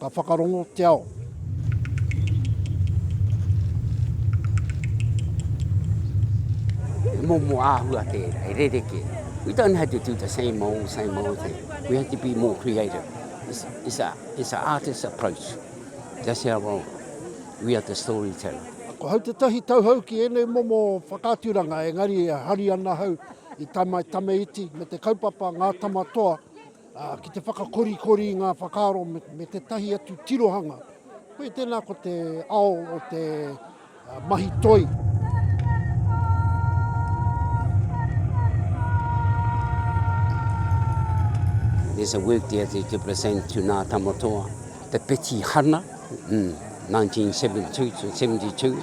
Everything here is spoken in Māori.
Ka whakarongo te ao. He momo āhua te e rereke. We don't have to do the same old, same old thing. We have to be more creative. It's, it's, a, it's a artist approach. That's our role. We are the storyteller. Ko hau te tahi tauhau ki ēnei momo whakaaturanga, engari e hari ana hau i tamaitame iti me te kaupapa ngā tama toa Ki te whakakorikori i ngā whakaaro me tētahi atu tirohanga, koia tēnā ko te ao o te mahi toi. There's a work there that you present to Nā Tamatoa, the Petihana, mm, 1972 to 72.